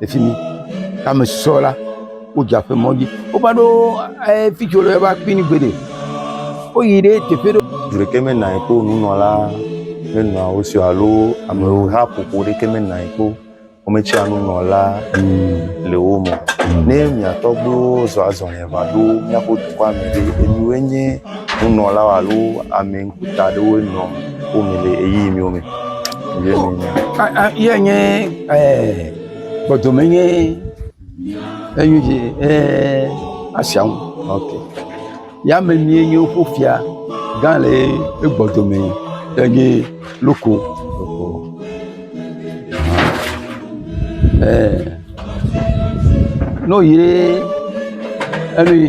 le fi mi. Ke ame susɔewo la, wodze aƒemɔ dzi. Wova ɖo ee fi tso ɖe va kpi ni gbeɖe. Woyi ɖe teƒe ɖe. Ŋu ɖekɛ mena ye kpo nunɔla menɔa wo si o alo ameha ƒoƒo ɖekɛ mena ye kpo wometsɔa nunɔla le wo me. Ne mia tɔgbuiwo zɔ azɔli va ɖo míaƒe dukɔa me ɖe, emiwoe nye nunɔla alo ame ŋkuta aɖewoe nɔ. Wome le ɣeyiɣi miwo me. Ye nye kpɔdome nye enyi dzi asia ŋu. Ya me nyuie nye woƒe fia gã le egbɔ dome enye loko. Ne woyi ɖe enu yi.